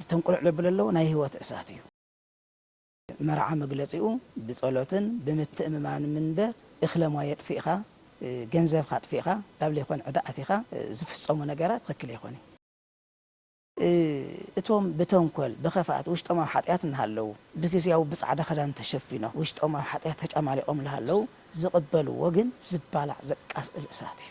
እቶም ቁልዕ ለብል ኣለዎ ናይ ህይወት እሳት እዩ። መርዓ መግለጺኡ ብጸሎትን ብምትእምማን ምንበር እክለማ የጥፊእካ ገንዘብካ ኣጥፊእካ ናብ ለይኮን ዕዳ ኣቲካ ዝፍጸሙ ነገራት ትክክል ኣይኮንን። እቶም ብተንኮል ብከፍኣት ውሽጦም ኣብ ሓጥያት እናሃለዉ ብግዝያዊ ብጻዕዳ ክዳን ተሸፊኖም ውሽጦም ኣብ ሓጥያት ተጫማሊቆም ላሃለዉ ዝቅበልዎ ግን ዝባላዕ ዘቃጽል እሳት እዩ።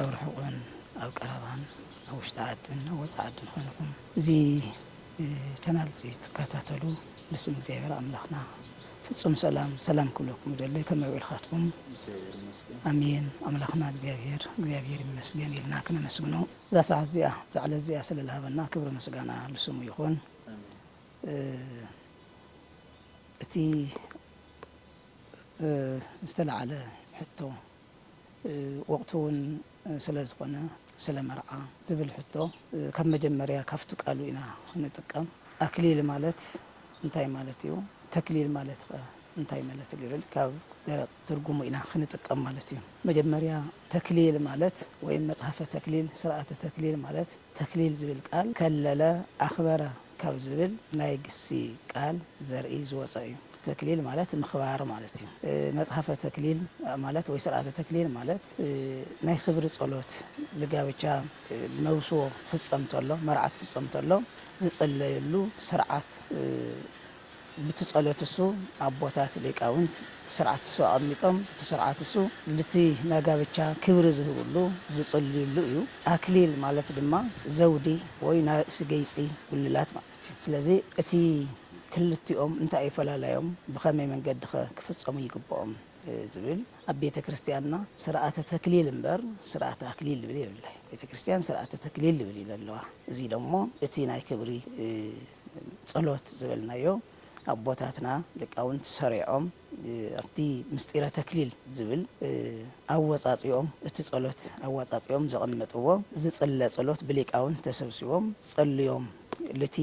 ኣብ ርሑቕን ኣብ ቀረባን ኣብ ውሽጢ ዓድን ኣብ ወጻኢ ዓድን ኮይንኩም እዚ ቻናል እዚ ትከታተሉ ብስም እግዚኣብሔር ኣምላኽና ፍጹም ሰላም ሰላም ክብለኩም ይደሊ ከመይ ውዒልካትኩም ኣሜን ኣምላኽና እግዚኣብሔር እግዚኣብሔር ይመስገን ኢልና ክነመስግኖ እዛ ሰዓት እዚኣ እዛ ዕለት እዚኣ ስለ ዝሃበና ክብሪ ምስጋና ልስሙ ይኹን እቲ ዝተላዓለ ሕቶ ወቕቱ እውን ስለ ዝኾነ ስለ መርዓ ዝብል ሕቶ ካብ መጀመርያ ካብቱ ቃሉ ኢና ንጥቀም። ኣክሊል ማለት እንታይ ማለት እዩ? ተክሊል ማለት ከ እንታይ መለት እዩ? ልብል ካብ ደረቕ ትርጉሙ ኢና ክንጥቀም ማለት እዩ። መጀመርያ ተክሊል ማለት ወይም መጽሐፈ ተክሊል ስርዓተ ተክሊል ማለት ተክሊል ዝብል ቃል ከለለ፣ ኣኽበረ፣ ካብ ዝብል ናይ ግሲ ቃል ዘርኢ ዝወጸ እዩ። ተክሊል ማለት ምኽባር ማለት እዩ። መጽሐፈ ተክሊል ማለት ወይ ስርዓተ ተክሊል ማለት ናይ ክብሪ ጸሎት ልጋብቻ መብስዎ ትፍጸም ተሎ መርዓ ትፍጸም ተሎ ዝጽለየሉ ስርዓት ብቲ ጸሎት እሱ ኣቦታት ሊቃውንት እቲ ስርዓት እሱ ኣቐሚጦም እቲ ስርዓት እሱ ልቲ ናጋብቻ ክብሪ ዝህብሉ ዝጽልዩሉ እዩ ኣክሊል ማለት ድማ ዘውዲ ወይ ናርእሲ ገይጺ ጉልላት ማለት እዩ ስለዚ እቲ ክልቲኦም እንታይ እዩ ፈላላዮም ብኸመይ መንገዲኸ ክፍጸሙ ይግብኦም ዝብል ኣብ ቤተክርስትያንና ስርኣተ ተክሊል እምበር ስርኣተ ኣክሊል ልብል የብላይ ቤተክርስትያን ስርኣተ ተክሊል ልብል እዩ ለለዋ እዙይ ደሞ እቲ ናይ ክብሪ ጸሎት ዝበልናዮ ኣቦታትና ሊቃውንት ሰሪዖም ኣብቲ ምስጢረ ተክሊል ዝብል ኣወጻጽኦም እቲ ጸሎት ኣወጻጽኦም ዘቐመጥዎ ዝጽለ ጸሎት ብሊቃውንት ተሰብሲቦም ጸልዮም ልቲ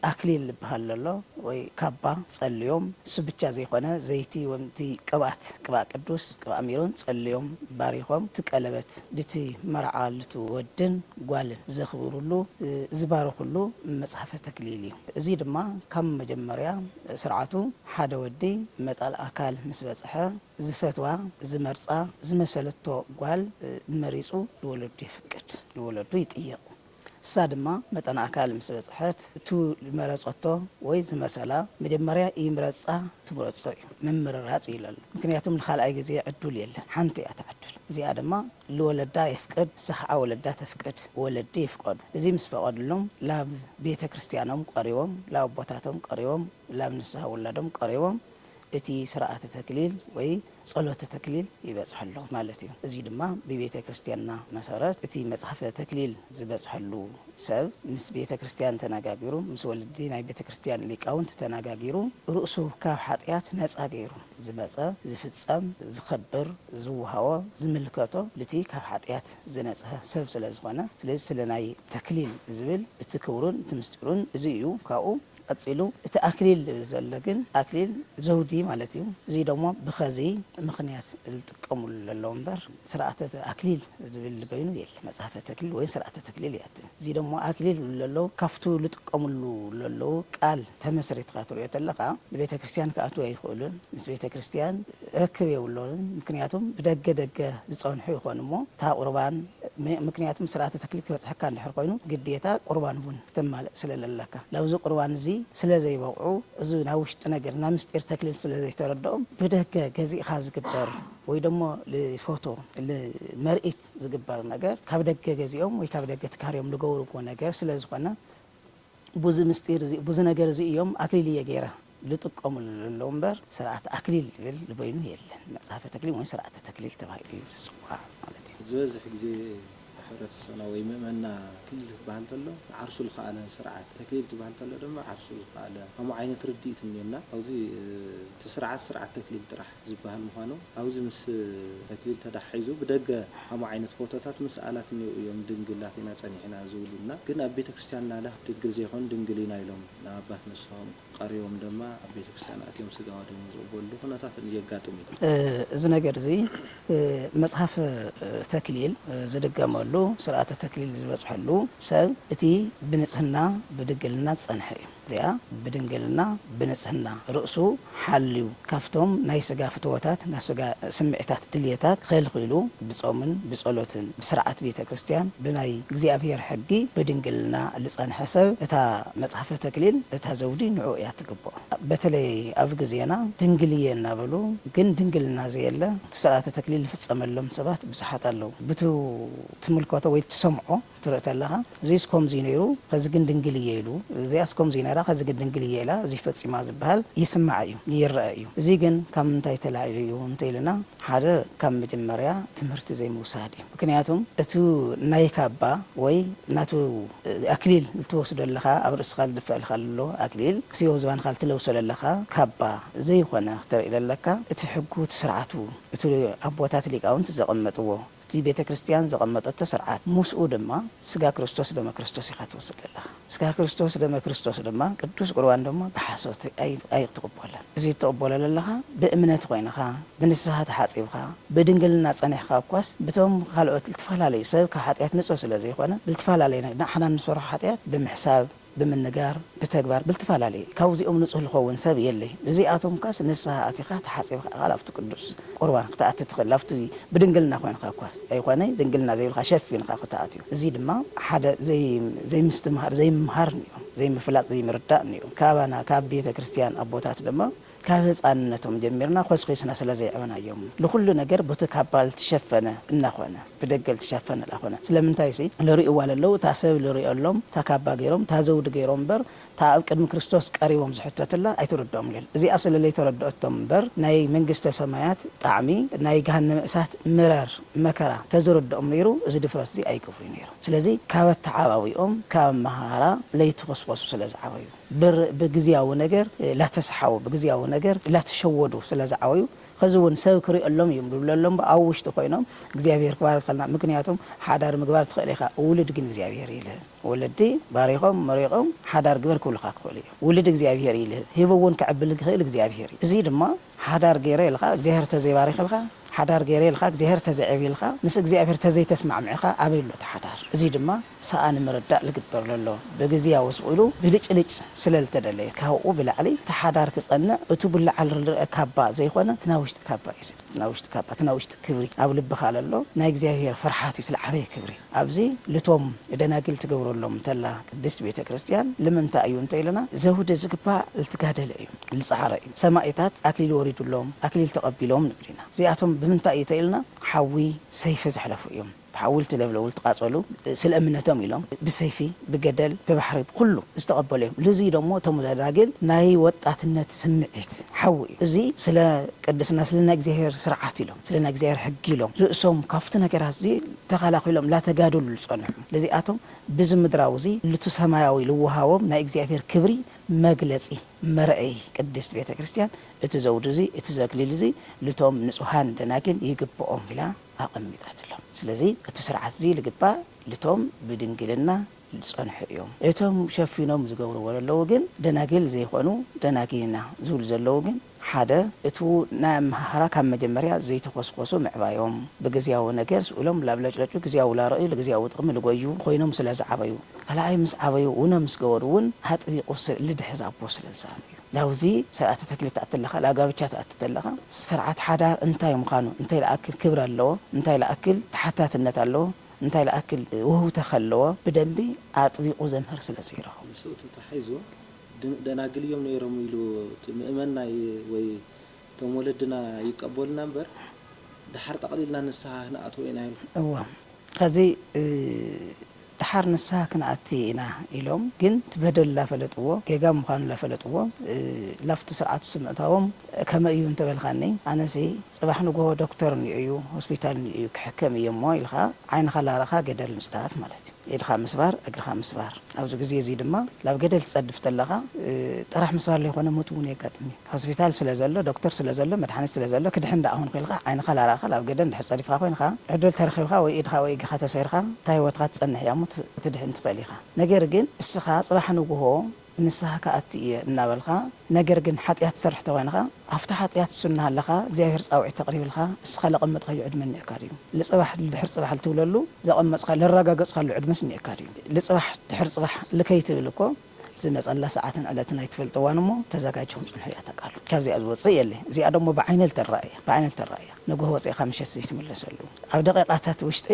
ኣክሊል ልብሃል ለሎ ወይ ካባ ጸልዮም እሱ ብቻ ዘይኮነ ዘይቲ ወም እቲ ቅብኣት ቅብኣ ቅዱስ ቅብኣ ሚሮን ጸልዮም ባሪኾም እቲ ቀለበት ልቲ መርዓ ልቲ ወድን ጓልን ዘኽብሩሉ፣ ዝባርኹሉ መጽሐፈ ተክሊል እዩ። እዙይ ድማ ካብ መጀመርያ ስርዓቱ ሓደ ወዲ መጣል ኣካል ምስ በጽሐ ዝፈትዋ፣ ዝመርጻ፣ ዝመሰለቶ ጓል መሪጹ ንወለዱ የፍቅድ፣ ንወለዱ ይጥይቕ። እሳ ድማ መጠን ኣካል ምስ በጽሐት እቱ ዝመረጸቶ ወይ ዝመሰላ መጀመርያ እይምረጻ ትምረጾ እዩ። ምምርራጽ እዩ ለሎ። ምክንያቱም ንካልኣይ ግዜ ዕዱል የለን። ሓንቲ እያ እታ ዕዱል። እዚኣ ድማ ልወለዳ የፍቅድ ንሳ ኸዓ ወለዳ ተፍቅድ ወለዲ ይፍቀዱ እዚ ምስ ፈቀዱሎም ላብ ቤተ ክርስትያኖም ቀሪቦም ላብ ኣቦታቶም ቀሪቦም ላብ ንስሃ ውላዶም ቀሪቦም እቲ ስርዓተ ተክሊል ወይ ጸሎተ ተክሊል ይበጽሐሎም ማለት እዩ እዚ ድማ ብቤተ ክርስትያንና መሰረት እቲ መጽሐፈ ተክሊል ዝበጽሐሉ ሰብ ምስ ቤተ ክርስትያን ተናጋጊሩ ምስ ወለዲ ናይ ቤተ ክርስትያን ሊቃውንት ተናጋጊሩ ርእሱ ካብ ሓጥያት ነጻ ገይሩ ዝመጸ ዝፍጸም ዝከብር ዝወሃቦ ዝምልከቶ ልቲ ካብ ሓጥያት ዝነጽሀ ሰብ ስለ ዝኮነ ስለዚ ስለ ናይ ተክሊል ዝብል እቲ ክብሩን እቲ ምስጢሩን እዚ እዩ ካብኡ ቀጺሉ እቲ ኣክሊል ልብል ዘሎ ግን ኣክሊል ዘውዲ ማለት እዩ እዚ ደሞ ብከዚ ምክንያት ልጥቀሙሉ ለለዉ እምበር ስርዓተ ኣክሊል ዝብል በይኑ የለ መጽሐፈ ተክሊል ወይ ስርዓተ ተክሊል ይኣትም እዚ ደሞ ኣክሊል ዝብሉ ለለዉ ካብቱ ልጥቀምሉ ለለዉ ቃል ተመስሪትካ ትሪኦ ተለካ ንቤተ ክርስትያን ክኣትው ኣይክእሉን ምስ ቤተ ክርስትያን ርክብ የብሎምን ምክንያቱም ብደገ ደገ ዝጸንሑ ይኮኑ እሞ እታ ቁርባን ምክንያቱም ስርዓተ ተክሊል ክበጽሐካ እንድሕር ኮይኑ ግዴታ ቁርባን ውን ክተማልእ ስለ ለለካ ለብዚ ቁርባን እዚ ስለ ዘይበቅዑ እዚ ናይ ውሽጢ ነገር ናይ ምስጢር ተክሊል ስለ ዘይተረደኦም ብደገ ገዚእካ ዝግበር ወይ ደሞ ልፎቶ ልመርኢት ዝግበር ነገር ካብ ደገ ገዚኦም ወይ ካብ ደገ ትካርዮም ልገብርዎ ነገር ስለ ዝኾነ ቡዚ ምስጢር እዚ ቡዚ ነገር እዚ እዮም ኣክሊል እየ ገይረ ልጥቀሙሉ ልለዉ እምበር ስርዓት ኣክሊል ልብል ልበይኑ የለን። መጽሐፈ ተክሊል ወይ ስርዓተ ተክሊል ተባሂሉ እዩ ዝጽዋዕ ማለት እዩ። ዝበዝሕ ግዜ ሕብረተሰብና ወይ ምእመንና ኣክሊል ክበሃል ተሎ ንዓርሱ ልኸኣለ ስርዓት፣ ተክሊል ትበሃል ተሎ ድማ ዓርሱ ዝኸኣለ ከምኡ ዓይነት ርድኢት እኒኦና። ካብዚ እቲ ስርዓት ስርዓት ተክሊል ጥራሕ። ዝበሃል ምዃኑ ኣብዚ ምስ ተክሊል ተዳሓሒዙ ብደገ ሓሙ ዓይነት ፎቶታት ምስ ኣላት እኔዉ እዮም ድንግላት ኢና ፀኒሕና ዝብሉና ግን ኣብ ቤተ ክርስትያን ናለ ድንግል ዘይኮኑ ድንግል ኢና ኢሎም ናብ ኣባት ንስሆም ቐሪቦም ደማ ኣብ ቤተ ክርስትያን ኣትዮም ስጋ ወደሞም ዝቕበልሉ ኩነታት የጋጥም እዩ። እዚ ነገር እዚ መፅሓፍ ተክሊል ዝድገመሉ ስርዓተ ተክሊል ዝበፅሐሉ ሰብ እቲ ብንፅህና ብድግልና ዝፀንሐ እዩ። እዚኣ ብድንግልና ብንጽህና ርእሱ ሓልዩ ካብቶም ናይ ስጋ ፍትወታት ናይ ስጋ ስምዒታት ድልየታት ኸልኺሉ ብጾምን ብጸሎትን ብስርዓት ቤተ ክርስቲያን ብናይ እግዚኣብሔር ሕጊ ብድንግልና ልጸንሐ ሰብ እታ መጽሐፈ ተክሊል እታ ዘውዲ ንዑኡ እያ ትግብኦ በተለይ ኣብ ግዜና ድንግል እየ እናበሉ ግን ድንግልና ዘየለ እቲ ስርዓተ ተክሊል ልፍጸመሎም ሰባት ብዙሓት ኣለዉ ብቱ ትምልከቶ ወይ ትሰምዖ ክትርኢ ተለኻ እዙይስ ከምዙይ ነይሩ ኸዚ ግን ድንግል እየ ኢሉ፣ እዚኣስ ከምዙይ ነይራ ኸዚ ግን ድንግል እየ ኢላ እዙይ ፈፂማ ዝበሃል ይስማዕ እዩ፣ ይረኣ እዩ። እዙይ ግን ካብ ምንታይ ተላዒሉ እዩ እንተኢሉና ሓደ ካብ መጀመርያ ትምህርቲ ዘይምውሳድ እዩ። ምኽንያቱ እቲ ናይ ካባ ወይ ናቱ ኣክሊል ልትወስዶ ለኻ ኣብ ርእስኻ ልድፈኣልኻ ለሎ ኣክሊል እቲ ኣብ ዝባንኻ ልትለብሶ ለለኻ ካባ ዘይኾነ ክተርኢ ለለካ እቲ ሕጉ እቲ ስርዓቱ እቲ ኣቦታት ሊቃውንት ዘቐመጥዎ እቲ ቤተ ክርስትያን ዘቐመጠቶ ስርዓት ምስኡ ድማ ስጋ ክርስቶስ ደመ ክርስቶስ ኢኻ ትወስድ ዘለኻ ስጋ ክርስቶስ ደመ ክርስቶስ ድማ ቅዱስ ቁርባን ድማ ብሓሶት ኣይክትቕበሎን እዚ እትቕበሎ ዘለኻ ብእምነት ኮይንኻ ብንስሃ ተሓጺብካ ብድንግልና ጸኒሕካ እኳስ ብቶም ካልኦት ልትፈላለዩ ሰብ ካብ ሓጢኣት ንጹህ ስለ ዘይኮነ ልትፈላለዩ ንሕና ንሰርሖ ሓጢኣት ብምሕሳብ ብምንጋር ብተግባር ብልትፋላለየ ካብዚኦም ንጹህ ልኸውን ሰብ የለ ብዚኣቶምካስ ንስሃ ኣቲኻ ተሓጺብኻ እኻል ኣብቱ ቅዱስ ቁርባን ክትኣቲ ትኽል ኣብቲ ብድንግልና ኮይንኻ እኳ ኣይኾነይ ድንግልና ዘይብልካ ሸፊንኻ ክትኣትዩ እዚ ድማ ሓደ ዘይምስትምሃር ዘይምምሃር ንዩ ዘይምፍላጥ ዘይምርዳእ ንዩ ካባና ካብ ቤተ ክርስትያን ኣቦታት ድማ ካብ ህጻንነቶም ጀሚርና ኮስኪስና ስለ ዘየዕበናዮም ልኹሉ ነገር ቡቲ ካባ ልትሸፈነ እናኾነ ብደገ ልትሸፈነ ላኾነ ስለምንታይሲ ልሪእዋ ለለው እታ ሰብ ልሪኦሎም እታ ካባ ገይሮም እታ ዘውዲ ገይሮም እምበር እታ ኣብ ቅድሚ ክርስቶስ ቀሪቦም ዝሕተትላ ኣይትርድኦም ልል እዚኣ ስለ ለይተረድኦቶም እምበር ናይ መንግስተ ሰማያት ጣዕሚ ናይ ገሃነመ እሳት ምረር መከራ ተዝርድኦም ነይሩ እዚ ድፍረትዚ ኣይገብሩይ ነይሮም ስለዚ ካብ ኣተዓባብይኦም ካብ ኣመሃህራ ለይተኾስኮሱ ስለ ዝዓበዩ ብር ብግዝያዊ ነገር ላተሳሓቡ ብግዝያዊ ነገር ላተሸወዱ ስለ ዝዓበዩ ኸዚ ውን ሰብ ክሪኦሎም እዩ ዝብለሎም እባ ኣብ ውሽጢ ኮይኖም እግዚኣብሄር ክባርኸልና ምክንያቱም ሓዳር ምግባር ትኽእል ኢኻ ውሉድ ግን እግዚኣብሄር ይልህብ ወለዲ ባሪኾም መሪቖም ሓዳር ግበር ክብሉኻ ክኽእሉ እዮም ውሉድ እግዚኣብሄር ይልህብ ሂቡ ውን ከዕብልል ዝኽእል እግዚኣብሄር እዩ እዙይ ድማ ሓዳር ገይረ ኢልኻ እግዚኣብሔር ተዘይባሪኽልካ ሓዳር ገይረ ኢልኻ እግዚኣብሔር ተዘይዐብይልካ ምስ እግዚኣብሔር ተዘይተስማዕሚዕኻ ኣበይ ኣሎ እቲ ሓዳር እዙይ ድማ ሰኣን ምርዳእ ልግበር ለሎ ብግዝያዊ ሱቕ ኢሉ ብልጭልጭ ስለ ልተደለየ ካብኡ ብላዕሊ እቲ ሓዳር ክፀንዕ እቱ ብላዕል ርልርአ ካባ ዘይኾነ እቲ ናይ ውሽጢ ካባ እዩ እቲ ናይ ውሽጢ ካባ እቲ ናይ ውሽጢ ክብሪ ኣብ ልብኻ ለሎ ናይ እግዚኣብሔር ፍርሓት እዩ እቲ ልዓበየ ክብሪ ኣብዚ ልቶም ንደናግል ትገብረሎም ተላ ቅድስት ቤተ ክርስቲያን ልምንታይ እዩ እንተ ኢልና ዘውዲ ዝግባእ ልትጋደለ እዩ ልጸዓረ እዩ ሰማኢታት ኣክሊል ወሪዱሎም ኣክሊል ተቀቢሎም ንብል ኢና እዚኣቶም ብምንታይ እዩ ተኢልና ሓዊ ሰይፊ ዘሕለፉ እዮም ብሓዊ ልትለብለቡ ልትቃጸሉ ስለ እምነቶም ኢሎም ብሰይፊ ብገደል ብባሕሪ ብኩሉ ዝተቀበሉ እዮም ልዝይ ዶሞ እቶም ደናግል ናይ ወጣትነት ስምዒት ሓዊ እዩ እዙይ ስለ ቅድስና ስለ ናይ እግዚኣብሔር ስርዓት ስለ ናይ እግዚኣብሔር ሕጊ ኢሎም ርእሶም ካብቲ ነገራት እዚ ተኸላኺሎም ላተጋደሉ ልጸንሑ ልዚኣቶም ብዚ ምድራዊ እዚ ልቱ ሰማያዊ ልወሃቦም ናይ እግዚኣብሔር ክብሪ መግለጺ መርኣዪ ቅድስት ቤተ ክርስቲያን እቲ ዘውዲ እዚ እቲ ዘክሊል እዚ ልቶም ንጹሃን ደናግል ይግብኦም ኢላ ኣቐሚጣትሎም ስለዚ እቲ ስርዓት እዚ ልግባእ ልቶም ብድንግልና ልጸንሑ እዮም እቶም ሸፊኖም ዝገብርዎ ለለዉ ግን ደናግል ዘይኮኑ ደናግል ኢና ዝብሉ ዘለዉ ግን ሓደ፣ እቱ ናይ ኣመሃህራ ካብ መጀመርያ ዘይተኾስኮሱ ምዕባዮም፣ ብግዝያዊ ነገር ስእሎም ላብለጭለጩ ግዝያዊ ላረእዩ ልግዝያዊ ጥቕሚ ልጎዩ ኾይኖም ስለ ዝዓበዩ። ካልኣይ ምስ ዓበዩ ውነ ምስ ገበሩ እውን ኣጥቢቑ ስእ ልድሕዝ ኣቦ ስለ ልሰኣኑ እዩ። ላብዚ ሰርዓተ ተክሊል ትኣቲ ኣለኻ፣ ላጋብቻ ትኣቲ ተለኻ ሰርዓት ሓዳር እንታይ ምዃኑ፣ እንታይ ልኣክል ክብሪ ኣለዎ፣ እንታይ ልኣክል ተሓታትነት ኣለዎ፣ እንታይ ልኣክል ውህውተኸ ኣለዎ ብደንቢ ኣጥቢቑ ዘምህር ስለ ዘይረኸቡ። ምስኡ ተታሒዙ ደናግል እዮም ነይሮም ኢሉ እቲ ምእመን ናይ ወይ እቶም ወለድና ይቀበሉና እምበር ደሓር ጠቕሊልና ንስሃ ክንኣትዎ ኢና ኢልካ። እወ ኸዚ ደሓር ንስሃ ክንኣቲ ኢና ኢሎም ግን እቲ በደል ላፈለጥዎ ጌጋ ምዃኑ ላፈለጥዎ ላፍቲ ስርዓት ውስጥ ምእታዎም ከመይ እዩ እንተበልካኒ ኣነሲ ጽባሕ ንግሆ ዶክተር እንኦ እዩ ሆስፒታል እንኦ እዩ ክሕከም እየሞ ኢልካ ዓይንኻ ላረኻ ገደል ምጽዳፍ ማለት ኢድኻ ምስባር እግርኻ ምስባር ኣብዚ ግዜ እዚ ድማ ናብ ገደል ትጸድፍ ተለኻ ጥራሕ ምስባር ለይኮነ ሞት እውን የጋጥም እዩ ሆስፒታል ስለ ዘሎ ዶክተር ስለ ዘሎ መድሓኒት ስለ ዘሎ ክድሕን ደኣ ኹንኩ ኢልካ ዓይንኻ ላራእኻ ናብ ገደል እንድሕር ጸዲፍኻ ኮይንኻ ዕድል ተረኺብካ ወይ ኢድኻ ወይ እግርኻ ተሰይርካ እታ ሂወትካ ትጸንሕ እያ እሞ ክትድሕን ትኽእል ኢኻ ነገር ግን እስኻ ጽባሕ ንግሆ ንስሃ ክኣቲ እየ እናበልካ ነገር ግን ሓጥያት ትሰርሕ ተኮይንኻ ኣብቲ ሓጥያት ምስ እናሃለኻ እግዚኣብሔር ፃውዒት ተቅሪብልካ እስኻ ለቀመጥካዮ ዕድመ እኒኤካ ድዩ ልፅባሕ ልድሕር ፅባሕ ልትብለሉ ዘቀመፅካ ለራጋገፅካሉ ዕድመስ እኒኤካ ድዩ ልፅባሕ ድሕር ፅባሕ ልከይትብል እኮ ዝመፀላ ሰዓትን ዕለትን ኣይትፈልጥዋን እሞ ተዛጋጅኹም ፅንሑ እያ እታ ቃል ካብዚኣ ዝወፅእ የለን እዚኣ ደሞ ብዓይነ ልተረኣ እያ ብዓይነ ልተረኣ እያ ንጉሆ ወፂእኻ ምሸት ዘይትምለሰሉ ኣብ ደቂቃታት ውሽጢ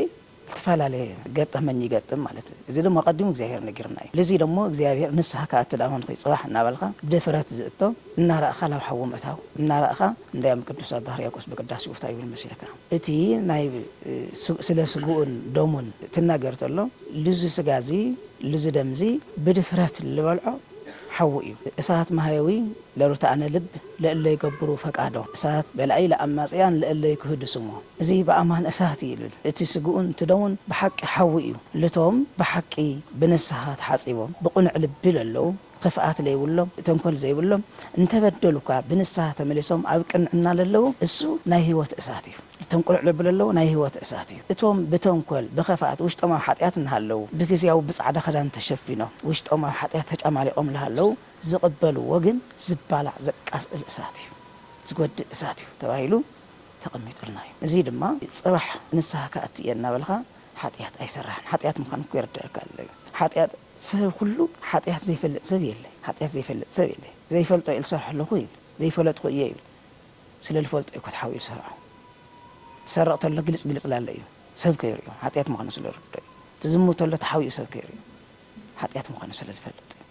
እትፈላለየ ገጠመኝ ይገጥም ማለት እዩ እዚ ደሞ ኣቀዲሙ እግዚኣብሔር ነጊሩና እዩ ልዚ ደሞ እግዚኣብሔር ንስሃ ክኣቲ ደኣ ኮንኩይ ጽባሕ እናበልካ ብድፍረት ዝእቶ እናረኣኻ ናብ ሓዊ ምእታው እናረኣኻ እንዳዮም ቅዱስ ኣባ ህርያቆስ ብቅዳሴኡ ታይ ይብል መሲልካ እቲ ናይ ስለ ስግኡን ደሙን ትናገር ተሎ ልዚ ስጋ እዚ ልዚ ደም እዚ ብድፍረት ልበልዖ ሓዊ እዩ እሳት ማህየዊ ለርቱዓነ ልብ ለእለ ይገብሩ ፈቃዶ፣ እሳት በላዒ ለኣማጽያን ለእለ ይክህዱ ስሞ። እዚ በኣማን እሳት እዩ እሉል፣ እቲ ስግኡን ትደሙን ብሓቂ ሓዊ እዩ። ልቶም ብሓቂ ብንስሃ ተሓጺቦም ብቅኑዕ ልቢ ለለዉ፣ ኽፍኣት ለይብሎም ተንኮል ዘይብሎም፣ እንተ በደሉ እኳ ብንስሃ ተመሊሶም ኣብ ቅንዕና ለለዉ፣ እሱ ናይ ሕይወት እሳት እዩ። ልቶም ቅኑዕ ልቢ ለለዉ ናይ ሕይወት እሳት እዩ። እቶም ብተንኮል ብኸፍኣት ውሽጦም ኣብ ሓጢኣት እንሃለዉ፣ ብግዝያዊ ብጻዕዳ ክዳን ተሸፊኖም ውሽጦም ኣብ ሓጢኣት ተጫማሊቆም ለሃለዉ፣ ዝቕበልዎ ግን ዝባላዕ ዘቃስል እሳት እዩ፣ ዝጎድእ እሳት እዩ ተባሂሉ ተቐሚጡልና እዩ። እዚ ድማ ጽባሕ ንስሃ ክኣቲ እየ እናበልካ ሓጥያት ኣይሰራሕን። ሓጥያት ምዃኑ እኮ የርደኣካ ኣሎ እዩ። ሓጥያት ሰብ ኩሉ ሓጥያት ዘይፈልጥ ሰብ የለ፣ ሓጥያት ዘይፈልጥ ሰብ የለ። ዘይፈልጦ እየ ዝሰርሖ ኣለኹ ይብል፣ ዘይፈለጥኹ እየ ይብል። ስለ ዝፈልጦ እዩ እኮ ተሓቢኡ ዝሰርሖ። ዝሰርቕ ተሎ ግልጽ ግልጽ ላለ እዩ ሰብ ከይርእዮ ሓጥያት ምዃኑ ስለ ዝርድኦ እዩ። ዝዝሙት ተሎ ተሓቢኡ ሰብ ከይርእዮ ሓጥያት ምዃኑ ስለ ዝፈልጥ እዩ።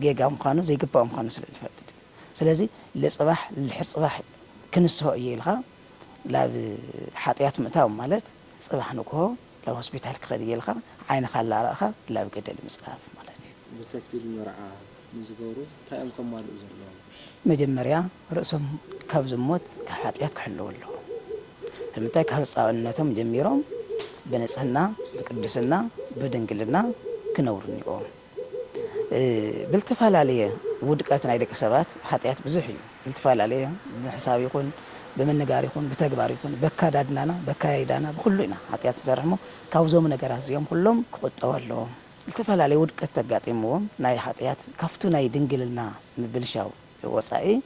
ጌጋ ምዃኑ ዘይግባኦ ምዃኑ ስለ ልፈልጥ ስለዚ ልጽባሕ ልድሕር ጽባሕ ክንስሆ እየ ኢልካ ላብ ሓጥያት ምእታው ማለት ጽባሕ ንግሆ ላብ ሆስፒታል ክኸድ እየ ኢልካ ዓይንኻ ላረእኻ ላብ ገደል ምጽላፍ ማለት እዩ። ብተክሊል መርዓ ንዝገብሩ ታይ እዮም ከማልኡ ዘለዎም? መጀመርያ ርእሶም ካብ ዝሞት ካብ ሓጥያት ክሕልዉ ኣለዎም ስለምንታይ ካብ ህጻንነቶም ጀሚሮም ብንጽህና ብቅድስና ብድንግልና ክነብሩ እኒኦዎም። ብልተፈላለየ ውድቀት ናይ ደቂ ሰባት ሓጥያት ብዙሕ እዩ ብልትፈላለየ ብሕሳብ ይኹን ብምንጋር ይኹን ብተግባር ይኹን በካዳድናና በካያይዳና ብኹሉ ኢና ሓጥያት ንሰርሕ እሞ ካብዞም ነገራት እዚኦም ኩሎም ክቁጠቡ ኣለዎም ልተፈላለየ ውድቀት ተጋጢምዎም ናይ ሓጥያት ካፍቱ ናይ ድንግልና ምብልሻው ወጻኢ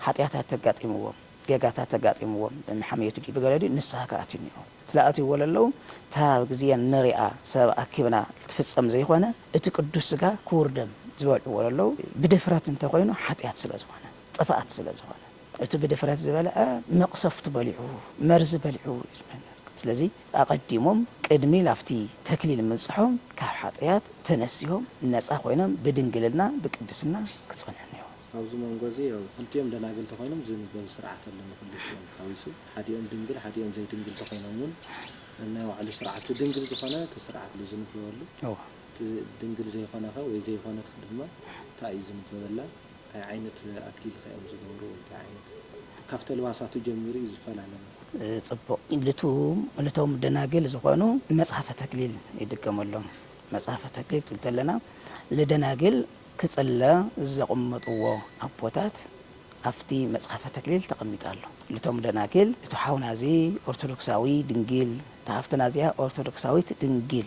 ሓጥያታት ተጋጢምዎም ጌጋታት ኣጋጢምዎም ብምሓምየቱ ድዩ ብገለ ድዩ ንስሃ ክኣትዩ ኔርዎ ትለኣትይዎ ለለዉ እታ ኣብ ግዜ ንርኣ ሰብ ኣኪብና ልትፍጸም ዘይኮነ እቲ ቅዱስ ስጋ ክቡር ደም ዝበልዕዎ ለለዉ ብድፍረት እንተ ኮይኑ ሓጥያት ስለ ዝኾነ ጥፍኣት ስለ ዝኾነ እቲ ብድፍረት ዝበልዐ መቅሰፍቱ በሊዑ መርዚ በሊዑ እዩ ዝመነርክ ስለዚ ኣቀዲሞም ቅድሚ ላብቲ ተክሊል ምብጽሖም ካብ ሓጥያት ተነሲሆም ነጻ ኮይኖም ብድንግልና ብቅድስና ክጸንሑ ኔርዎም። ኣብዚ መንጎ እዚ ያው ክልቲኦም ደናግል ተኾይኖም ዝንበብ ስርዓት ኣሎ ንክልቲኦም ሓዊሱ ሓዲኦም ድንግል ሓዲኦም ዘይድንግል ተኾይኖም ውን ነናይ ባዕሉ ስርዓት እቲ ድንግል ዝኾነ እቲ ስርዓት ኣሎ ዝንበበሉ እቲ ድንግል ዘይኾነኸ ወይ ዘይኾነትክ ድማ ታይ እዩ ዝንበበላ ታይ ዓይነት ኣክሊልኸ እዮም ዝገብሩ ወይ ታይ ዓይነት እቲ ካፍቲ ኣልባሳቱ ጀሚሩ እዩ ዝፈላለ ማለት እዩ። ጽቡቕ ልቱም ልቶም ደናግል ዝኾኑ መጽሐፈ ተክሊል ይድገመሎም መጽሐፈ ተክሊል ክንብል ተለና ልደናግል ክጽለ ዘቕመጥዎ ኣቦታት ኣብቲ መጽሐፈ ተክሊል ተቐሚጡ ኣሎ። ልቶም ደናግል ልቱ ሓውና እዚ ኦርቶዶክሳዊ ድንግል እታ ሃፍትና እዚኣ ኦርቶዶክሳዊት ድንግል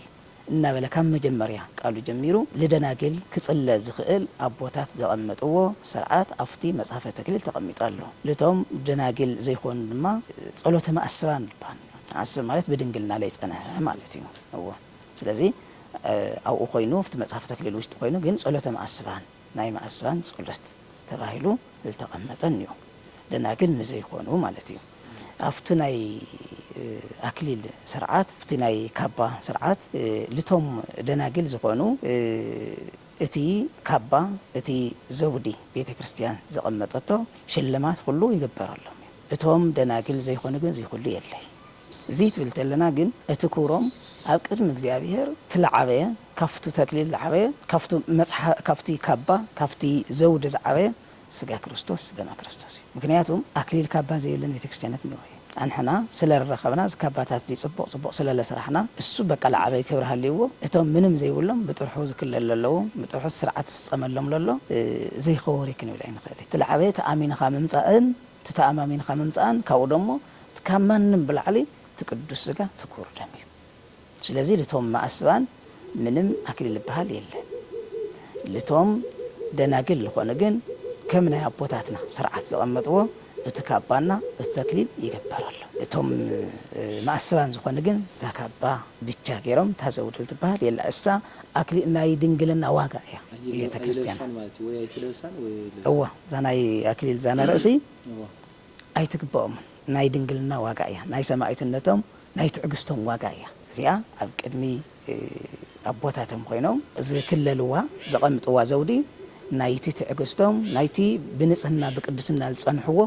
እናበለ ካብ መጀመርያ ቃሉ ጀሚሩ ልደናግል ክጽለ ዝኽእል ኣቦታት ዘቐመጥዎ ሰርዓት ኣብቲ መጽሐፈ ተክሊል ተቐሚጡ ኣሎ። ልቶም ደናግል ዘይኮኑ ድማ ጸሎተ መኣስባን ልባን እዩ። መኣስብ ማለት ብድንግልና ለይጸነሐ ማለት እዩ። እወ። ስለዚ ኣብኡ ኮይኑ ኣብቲ መጽሐፈ ተክሊል ውሽጢ ኮይኑ ግን ጸሎተ መኣስባን ናይ መኣስባን ጸሎት ተባሂሉ ዝተቐመጠ እኒኦ ደናግል ንዘይኮኑ ማለት እዩ ኣብቲ ናይ ኣክሊል ስርዓት ኣብቲ ናይ ካባ ስርዓት ልቶም ደናግል ዝኾኑ እቲ ካባ እቲ ዘውዲ ቤተ ክርስቲያን ዘቐመጠቶ ሽልማት ኹሉ ይግበረሎም እዩ እቶም ደናግል ዘይኮኑ ግን እዙይ ኹሉ የለይ እዙይ ትብል ተለና ግን እቲ ክብሮም ኣብ ቅድሚ እግዚኣብሔር ትለዓበየ ካፍቱ ተክሊል ለዓበየ ካፍቱ መጽሓ ካፍቲ ካባ ካፍቲ ዘውዲ ዝዓበየ ሥጋ ክርስቶስ ደመ ክርስቶስ እዩ ምክንያቱ ኣክሊል ካባ ዘይብለን ቤተክርስቲያነት እነሆ እዩ ኣንሕና ስለ ረኸብና እዚ ካባታት እዙይ ጽቡቅ ጽቡቅ ስለ ለሰራሕና እሱ በቃ ለዓበይ ክብሪ ሃልይዎ እቶም ምንም ዘይብሎም ብጥርሑ ዝክለሉ ለለዉ ብጥርሑ እቲ ስርዓት ዝፍጸመሎም ለሎ ዘይከወሪ ክንብል ኣይንክእል እቲ ለዓበየ ተኣሚንኻ ምምጻእን እቲ ተኣማሚንኻ ምምጻእን ካብኡ ደሞ እቲ ካብ ማንም ብላዕሊ እቲ ቅዱስ ስጋ እቲ ክቡር ደም እዩ ስለዚ ልቶም መኣስባን ምንም ኣክሊል ልበሃል የለን ልቶም ደናግል ልኾኑ ግን ከም ናይ ኣቦታትና ስርዓት ዘቐመጥዎ እቲ ካባና እቲ ተክሊል ይግበረሎም ልቶም መኣስባን ዝኾኑ ግን እዛ ካባ ብቻ ገይሮም እታ ዘውዲ ልትበሃል የላ እሳ ኣክሊል ናይ ድንግልና ዋጋ እያ ቤተክርስትያና እዋ እዛ ናይ ኣክሊል እዛ ናይ ርእሲ ኣይትግበኦምን ናይ ድንግልና ዋጋ እያ ናይ ሰማኢትነቶም ናይ ትዕግስቶም ዋጋ እያ እዚኣ ኣብ ቅድሚ ኣቦታቶም ኮይኖም ዝክለልዋ ዘቐምጥዋ ዘውዲ ናይቲ ትዕግስቶም ናይቲ ብንጽህና ብቅድስና ዝጸንሕዎ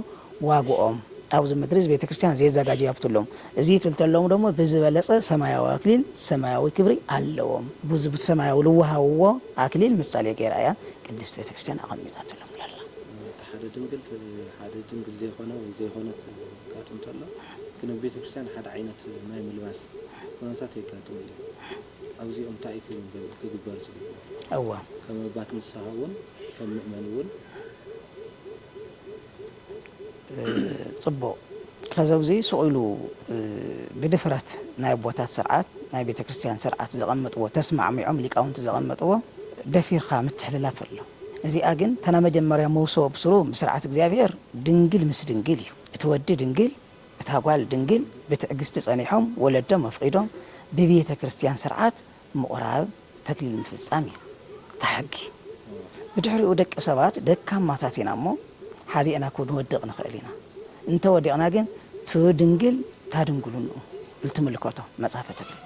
ዋግኦም ኣብዚ ምድሪ እዚ ቤተክርስትያን ዜዛጋጀዩ ሃብትሎም እዚ ትልተሎም ደሞ ብዝበለጸ ሰማያዊ ኣክሊል ሰማያዊ ክብሪ ኣለዎም ቡዚ ብሰማያዊ ልወሃብዎ ኣክሊል ምሳሌ ገይራ እያ ቅድስት ቤተክርስትያን ኣቐሚጣትሎም ለላ። ሓደ ድንግል ትብ ሓደ ድንግል ዘይኮነ ወይ ዘይኮነት የጋጥም ተሎ ግን ኣብ ቤተክርስትያን ሓደ ዓይነት ናይ ምልባስ ኩነታት የጋጥም እዩ ኣብዚኦም ታይ እዩ ክግበል ክግበር ዝግብኦ እወ ከም ኣባት ንስሃ እውን ከም ምእመን እውን። ጽቡቅ ከዚ ኣብዙይ ሱቅ ኢሉ ብድፍረት ናይ ኣቦታት ስርዓት ናይ ቤተክርስትያን ስርዓት ዘቀመጥዎ ተስማዕሚዖም ሊቃውንቲ ዘቀመጥዎ ደፊርካ ምትሕልላፍ ኣሎ። እዚኣ ግን እታ ናይ መጀመርያ መውስቦ ብስሩ ብስርዓት እግዚኣብሔር ድንግል ምስ ድንግል እዩ እቲ ወዲ ድንግል እታ ጓል ድንግል ብትዕግስቲ ጸኒሖም ወለዶም ኣፍቒዶም ብቤተ ክርስትያን ስርዓት ምቑራብ ተክሊል ምፍጻም እዩ እታ ሕጊ ብድሕሪኡ ደቂ ሰባት ደካማታት ኢና እሞ ሓዲእና ክንወድቕ ንኽእል ኢና እንተ ወዲቕና ግን ትድንግል ታድንግሉንኡ ልትምልከቶ መጽሐፈ ተክሊል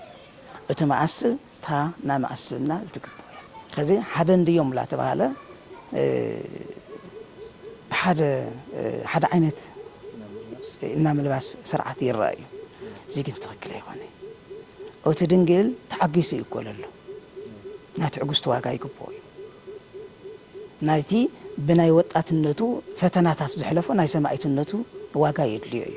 እቲ መኣስብ እታ ናይ መኣስብና ልትግብኦ እያ። ከዚ ሓደ እንድዮም ላተባህለ ብሓደ ሓደ ዓይነት እና ምልባስ ስርዓት ይረኣ እዩ። እዚ ግን ትክክል ኣይኮነ። ኦቲ ድንግል ተዓጊሱ እዩ እኮ ለሎ። ናይ ትዕግስቱ ዋጋ ይግብኦ እዩ። ናይቲ ብናይ ወጣትነቱ ፈተናታት ዘሕለፎ ናይ ሰማኢትነቱ ዋጋ የድልዮ እዩ።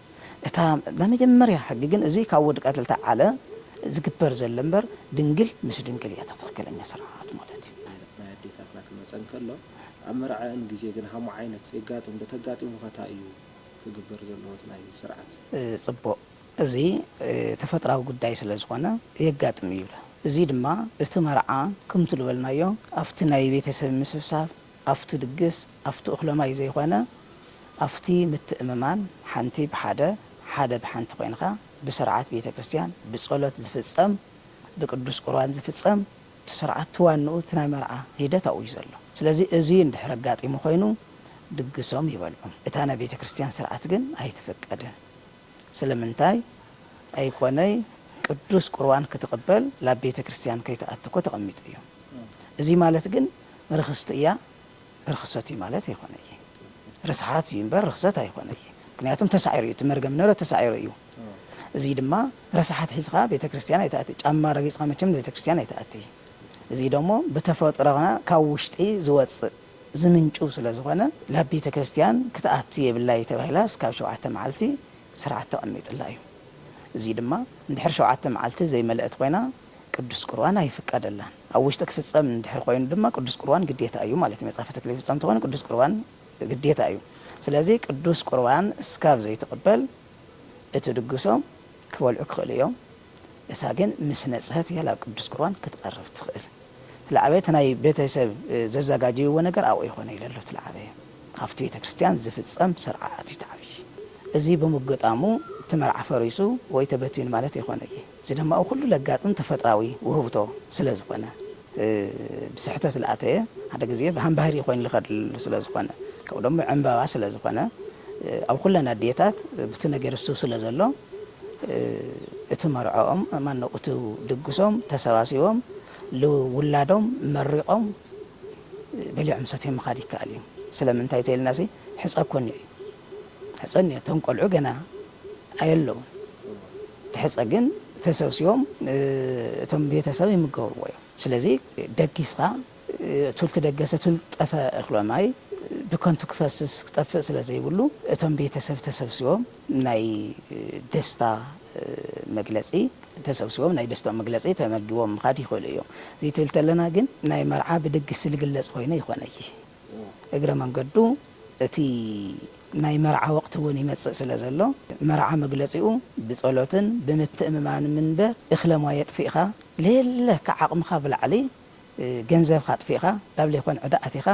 እታ ናይ መጀመርያ ሕጊ ግን እዚ ካብ ወዲ ቀተልታ ዓለ ዝግበር ዘሎ እምበር ድንግል ምስ ድንግል እያ እታ ትኽክለኛ ስርዓት ማለት እዩ። ናይ ልብ ናይ ኣዴታትና ክመጸ እንከሎ ኣብ መርዐኣን ግዜ ግን ሃሞ ዓይነት የጋጥም ዶ ተጋጢሙኸ ታይ እዩ ክግበር ዘለዎ እቲ ናይ ስርዓት። ጽቡቅ እዚ ተፈጥራዊ ጉዳይ ስለ ዝኾነ የጋጥም እዩ ይብላ እዚ ድማ እቲ መርዓ ክምቲ ልበልናዮ ኣብቲ ናይ ቤተሰብ ምስብሳብ ኣብቲ ድግስ ኣፍቲ እኹለማይ ዘይኮነ ኣፍቲ ምትእምማን ሓንቲ ብሓደ ሓደ ብሓንቲ ኮይንኻ ብስርዓት ቤተ ክርስቲያን ብጸሎት ዝፍጸም ብቅዱስ ቁርባን ዝፍጸም እቲ ስርዓት እቲ ዋንኡ እቲ ናይ መርዓ ሂደት ኣብኡዩ ዘሎ ስለዚ እዚ እንድሕር ኣጋጢሙ ኮይኑ ድግሶም ይበልዑ እታ ናይ ቤተ ክርስቲያን ስርዓት ግን ኣይትፍቀድን ስለምንታይ ኣይኮነይ ቅዱስ ቁርባን ክትቅበል ላብ ቤተ ክርስቲያን ከይትኣቲ እኮ ተቀሚጡ እዩ እዚ ማለት ግን ርኽስቲ እያ ርኽሰት እዩ ማለት ኣይኮነ እዪ ርስሓት እዩ እምበር ርኽሰት ኣይኮነ እዪ ምክንያቱም ተሳዒሩ እዩ እቲ መርገም ንብረት ተሳዒሩ እዩ እዙይ ድማ ረሳሓት ሒዝኻ ቤተክርስትያን ኣይትኣቲ ጫማ ረጊፅኻ መቸም ንቤተክርስትያን ኣይትኣቲ እዙይ ደሞ ብተፈጥሮና ካብ ውሽጢ ዝወፅእ ዝምንጩ ስለዝኾነ ላብ ቤተክርስትያን ክትኣቱ የብላ እዩ ተባሂላ እስካብ ሸውዓተ መዓልቲ ስርዓት ተቐሚጥላ እዩ እዙይ ድማ እንድሕር ሸውዓተ መዓልቲ ዘይመለእት ኾይና ቅዱስ ቁርባን ኣይፍቀደላን። ኣብ ውሽጢ ክፍጸም እንድሕር ኮይኑ ድማ ቅዱስ ቁርባን ግዴታ እዩ ማለት እዩ። መጽሐፈ ተክሊል ይፍጸም እንተኾይኑ ቅዱስ ቁርባን ግዴታ እዩ። ስለዚ ቅዱስ ቁርባን እስካብ ዘይትቅበል እቲ ድግሶም ክበልዑ ክኽእሉ እዮም። እሳ ግን ምስ ነጽሀት እያ ላብ ቅዱስ ቁርባን ክትቀርብ ትኽእል። ትላዕበ እቲ ናይ ቤተሰብ ዘዛጋጀይዎ ነገር ኣብኡ ይኾነ ኢለሉ ትላዕበ እዩ። ኣብቲ ቤተ ክርስቲያን ዚፍጸም ሥርዓት እዩ እቲ ዓቢይ። እዚ ብምግጣሙ እቲ መርዓ ፈሪሱ ወይ ተበቲኑ ማለት ኣይኮነይ። እዚ ደማኡ ኩሉ ለጋጥም ተፈጥራዊ ውህብቶ ስለ ዝኾነ፣ ብስሕተት ልኣተየ ሓደ ግዜ ብሃምባህሪ ኮይኑ ልኸድሉ ስለ ዝኾነ፣ ከምኡ ደሞ ዕምባባ ስለ ዝኾነ፣ ኣብ ኩለን ኣዴታት ብቲ ነገር እሱ ስለ ዘሎ እቲ መርዖኦም ማነው እቲ ድግሶም ተሰባሲቦም ልውላዶም መሪቖም፣ በሊዖም ሰትዮም ምኻድ ይከኣል እዩ ስለምንታይ ተይልናሲ ሕጸ እኮ እኒኦ እዩ ሕጸ እኒኦ እቶም ቆልዑ ገና ኣየለዉን እቲ ሕጸ ግን ተሰብሲቦም እቶም ቤተሰብ ይምገብዎ እዮም ስለዚ ደጊስኻ ቱልቲ ደገሰ ቱል ጠፈ እኽሎ ማይ ብከንቱ ክፈስስ ክጠፍእ ስለዘይብሉ እቶም ቤተሰብ ተሰብሲቦም ናይ ደስታ መግለጺ ተሰብሲቦም ናይ ደስትኦም መግለጺ ተመጊቦም ምኻድ ይኽእሉ እዮም። እዚ ትብል ተለና ግን ናይ መርዓ ብድግስ ልግለጽ ኾይኑ ኣይኾነይ። እግረ መንገዱ እቲ ናይ መርዓ ወቕቲ እውን ይመጽእ ስለ ዘሎ መርዓ መግለጺኡ ብጸሎትን ብምትእምማንም እንበር እኽለ ማይ ኣጥፊእኻ ለየለ ካብ ዓቕምኻ ብላዕሊ ገንዘብኻ ኣጥፊእኻ ናብ ለይኮን ዕዳ ኣቲኻ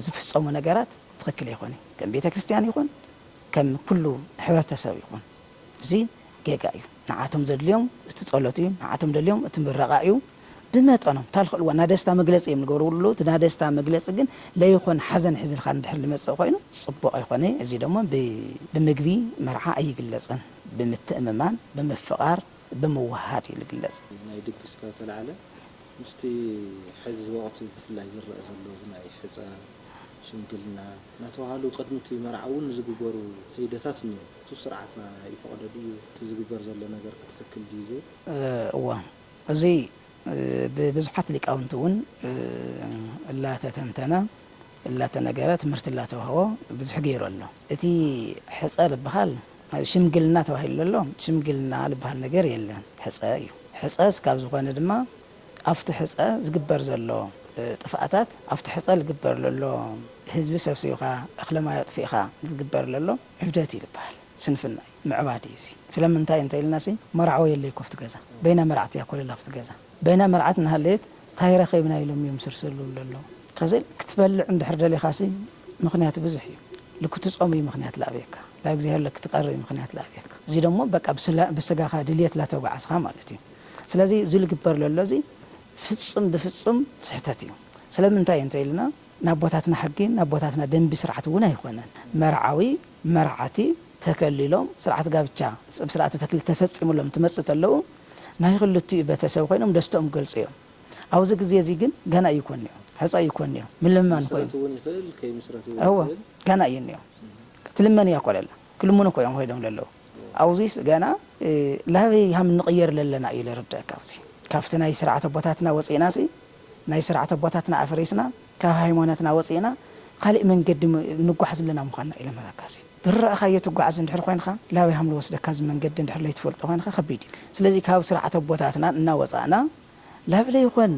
ዝፍጸሙ ነገራት ትኽክል ኣይኾነይ ከም ቤተ ክርስትያን ይኹን ከም ኩሉ ሕብረተሰብ ይኹን እዚ ጌጋ እዩ ንዓቶም ዘድልዮም እቲ ጸሎት እዩ ንዓቶም ደልዮም እቲ ምረቓ እዩ ብመጠኖም እታ ልኽእልዋ ናይ ደስታ መግለጺ እዮም ልገብርሉ እቲ ናይ ደስታ መግለጺ ግን ለይኾን ሓዘን ሒዝልካ እንድሕር ልመጽእ ኮይኑ ጽቡቕ ኣይኮነይ እዚ ደሞ ብምግቢ መርዓ ኣይግለጽን ብምትእምማን ብምፍቓር ብምውህሃድ እዩ ልግለጽ። ናይ ድግስ ካብ ተላዕለ ምስቲ ሕዚ ወቕቲ ብፍላይ ዝረኣ ዘሎ እዚ ናይ ሕጸ፣ ሽምግልና፣ ናተባህሉ ቅድሚ እቲ መርዓ እውን ዝግበሩ ከይደታት እኒዉ። እቱ ስርዓትና ይፈቕዶ ድዩ? እቲ ዝግበር ዘሎ ነገር ከ ትክክል ድዩ ዝብል? እወ። እዚ ብብዙሓት ሊቃውንቲ እውን እላተተንተነ፣ እላተነገረ፣ ትምህርቲ እላተውሃቦ ብዙሕ ገይሩ ኣሎ። እቲ ሕፀ ልበሃል ሽምግልና ተባሂሉ ዘሎ ሽምግልና ልበሃል ነገር የለን ሕፀ እዩ። ሕፀ እስካብ ዝኾነ ድማ ኣፍቲ ሕጸ ዝግበር ዘሎ ጥፍኣታት ኣፍቲ ሕጸ ልግበር ለሎ ህዝቢ ሰብሲብኻ እኽለ ማይ ኣጥፊእኻ ዝግበር ለሎ ዕብደት እዩ ልበሃል ስንፍና እዩ ምዕባድ እዩ እዚ ስለምንታይ እንተ ኢልና ሲ መራዕዎ የለይ እኮ ኣፍቲ ገዛ በይና መርዓት እያ ኮለል ኣፍቲ ገዛ በይና መርዓት እናሃለየት ታይ ረኺብና ኢሎም እዮም ስርሲ ልብሉ ለለው ከዝል ክትበልዕ እንድሕር ደሊኻ ሲ ምኽንያት ብዙሕ እዩ ልክትጾም እዩ ምኽንያት ልኣብየካ ላእግዚኣብሔር ለክትቀርብ እዩ ምኽንያት ልኣብየካ እዚ ደሞ በቃ ብስጋኻ ድልየት ላተጓዓዝኻ ማለት እዩ ስለዚ እዚ ልግበር ለሎ እዚ ፍጹም ብፍጹም ስሕተት እዩ። ስለምንታይ እንተ ኢልና ናብ ኣቦታትና ሕጊ ናብ ኣቦታትና ደንቢ ስርዓት እውን ኣይኾነን። መርዓዊ መርዓቲ ተከሊሎም ስርዓት ጋብቻ ስብ ስርዓተ ተክሊል ተፈጺምሎም እንትመጽኡ ተለዉ ናይ ክልቲኡ ቤተ ሰብ ኮይኖም ደስተኦም ክገልጹ እዮም። ኣብዚ ግዜ እዚ ግን ገና እዩ ኮን እዩ ሕጸ እዩ ኮን እዩ ምልምማን ኮይኑ። ክምስረት እውን ይኽእል ከይምስረት እውን እወ ይኽእል። ገና እዩ እኒኦ ትልመን እያ ኮለላ። ክልምኑ እኮ እዮም ከይዶም ለለዉ ኣውዚስ ገና ላበይ ሃም ንቅየር ለለና እዩ ለርደእካ ኣውዚ ካፍቲ ናይ ስርዓት ኣቦታትና ወጺእናሲ ናይ ስርዓት ኣቦታትና ኣፍሪስና ካብ ሃይሞነትና ወጺእና ኻሊእ መንገዲ ንጓሕ ዝለና ምዃንና እዩ ለመራካሲ ብርረእኻዮ ትጓዓዝ እንድሕር ኾይንኻ ላበይ ሃም ልወስደካ እዚ መንገዲ እንድሕር ለይትፈልጦ ኾይንኻ ከቢድ እዩ ስለዚ ካብ ስርዓት ኣቦታትና እናወጻእና ላብ ለይኾን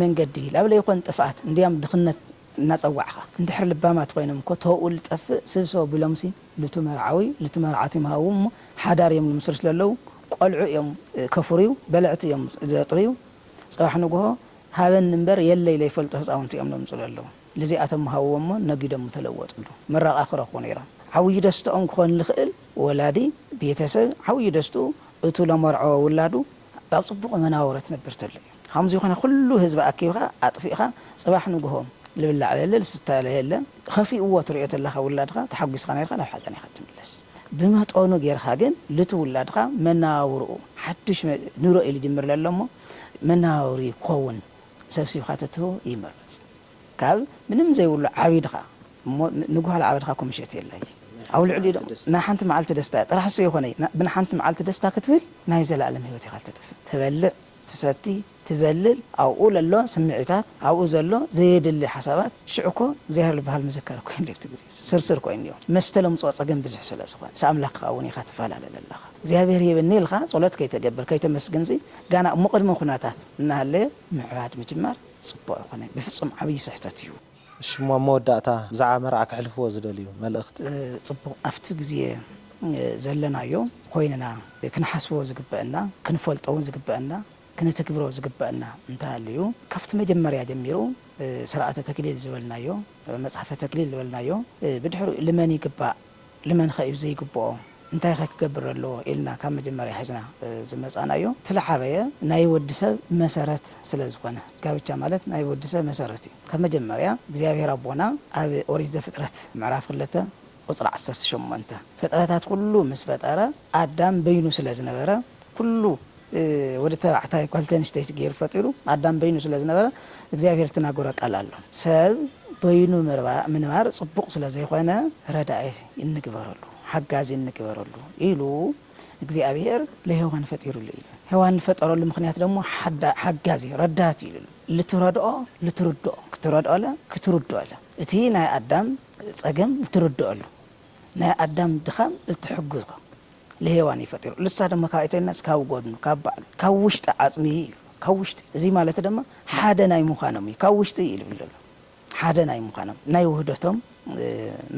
መንገዲ ላብ ለይኾን ጥፍኣት እንድያም ድኽነት እናጸዋዕካ እንድሕር ልባማት ኮይኖም እኮ ተውኡ ልጠፍእ ስብሰቡ ቢሎምሲ ልቱ መርዓዊ ልቱ መርዓት ይምሃዉ እሞ ሓዳር እዮም ልምስርቱ ለለዉ ቆልዑ እዮም ከፉርዩ በለዕቲ እዮም ዘጥርዩ ጽባሕ ንጉሆ ሃበኒ እምበር የለይ ለይፈልጡ ህጻውንቲ እዮም ለምጹ ለለዉ ልዚኣቶም ምሃውዎ እሞ ነጊዶም ምተለወጥሉ ምረቓ ክረኽቡ ነይሮም ዓውዪ ደስትኦም ክኾን ልኽእል ወላዲ ቤተሰብ ዓውዪ ደስትኡ እቱ ለመርዐወ ውላዱ ኣብ ጽቡቕ መናውሮ ትነብር ተሎ እዩ። ኸምዙይ ኾነ ኹሉ ህዝቢ ኣኪብኻ ኣጥፊእኻ ፅባሕ ንጉሆ ልብላዕ ለለ ልስተ ለየለ ኸፊእዎ ትሪኦ ተለኻ ውላድኻ ተሓጒስኻ ነይርኻ ናብ ሓፃን ኢኻ ትምለስ ብመጠኑ ገይርኻ ግን ልቲ ውላድኻ መነባብርኡ ሓዱሽ ንሮ እዩ ልጅምር ለሎ እሞ መነባብርኡ ክኸውን ሰብሲብኻ ተትህቦ ይምረፅ ካብ ምንም ዘይብሉ ዓቢድኻ እሞ ንጉኋላ ዓበድኻ ኮምሸት የለይ ኣብ ልዕሊኡ ድማ ናይ ሓንቲ መዓልቲ ደስታ ጥራሕ እሱ የኾነይ ብናይ ሓንቲ መዓልቲ ደስታ ክትብል ናይ ዘለኣለም ህይወት ኢኻ ልተጥፍእ ትበልዕ ትሰቲ ትዘልል ኣብኡ ለሎ ስምዒታት ኣብኡ ዘሎ ዘየድሊ ሓሳባት ሽዑ እኮ እግዚኣብሔር ልበሃል መዘከሪ ኮይኑ ኣሎ ኣብቲ ግዜ እዚ ስርስር ኮይኑ እዩ መስተ ለምጽኦ ጸገም ብዙሕ ስለ ዝኾነ ምስ ኣምላኽኻ እውን ኢኻ ትፋላለ ለለኻ እግዚኣብሔር ሂብኒ ኢልኻ ጸሎት ከይተገብር ከይተመስግን እዚ ጋና እሞ ቅድሚ ኩነታት እናሃለየ ምዕባድ ምጅማር ጽቡቅ ኣይኮነን ብፍጹም ዓብይ ስሕተት እዩ። እሺሞ ኣብ መወዳእታ ብዛዕባ መርዓ ከሕልፍዎ ዝደልዩ መልእኽቲ። ጽቡቕ ኣብቲ ግዜ ዘለናዮ ኮይንና ክንሓስቦ ዝግበእና ክንፈልጦ ውን ዝግበእና ክንትግብሮ ዝግበእና እንተሃልዩ ካብቲ መጀመርያ ጀሚሩ ስርዓተ ተክሊል ዝበልናዮ መጽሐፈ ተክሊል ዝበልናዮ ብድሕሪኡ ልመን ይግባእ ልመንኸ እዩ ዘይግብኦ? እንታይኸ ክገብር ኣለዎ? ኢልና ካብ መጀመርያ ሒዝና ዝመፃእናዮ ትልዓበየ ናይ ወዲ ሰብ መሰረት ስለዝኾነ ጋብቻ ማለት ናይ ወዲ ሰብ መሰረት እዩ። ካብ መጀመርያ እግዚኣብሔር ኣቦና ኣብ ኦሪት ዘፍጥረት ምዕራፍ ክልተ ቁፅሪ ዓሰርተ ሸሞንተ ፍጥረታት ኩሉ ምስ ፈጠረ ኣዳም በይኑ ስለ ዝነበረ ኩሉ ወዲ ተባዕታይ ጓልቲ ኣንስተይቲ ገይሩ ፈጢሩ ኣዳም በይኑ ስለ ዝነበረ እግዚኣብሔር እትናገሮ ቃል ኣሎ ሰብ በይኑ ምንባር ጽቡቅ ስለ ዘይኮነ ረዳኢ እንግበረሉ ሓጋዚ እንግበረሉ ኢሉ እግዚኣብሔር ለሔዋን ፈጢሩሉ ኢዩ ሔዋን ልፈጠረሉ ምክንያት ደሞ ሓጋዚ ረዳት ኢዩ ኢሉ ልትረድኦ ልትርድኦ ክትረድኦለ ክትርድኦለ እቲ ናይ ኣዳም ጸገም ልትርድኦሉ ናይ ኣዳም ድኻም እትሕግዞ ልሄዋን እዩ ፈጢሩ ልሳ ደማ ካባይ ተይልናስ ካብ ጎድኑ ካብ ባዕሉ ካብ ውሽጢ ዓጽሚ እዩ ኢሉ ካብ ውሽጢ እዚ ማለት ደማ ሓደ ናይ ምዃኖም እዩ ካብ ውሽጢ እዩ ኢሉ ኣሎ ሓደ ናይ ምዃኖም ናይ ውህደቶም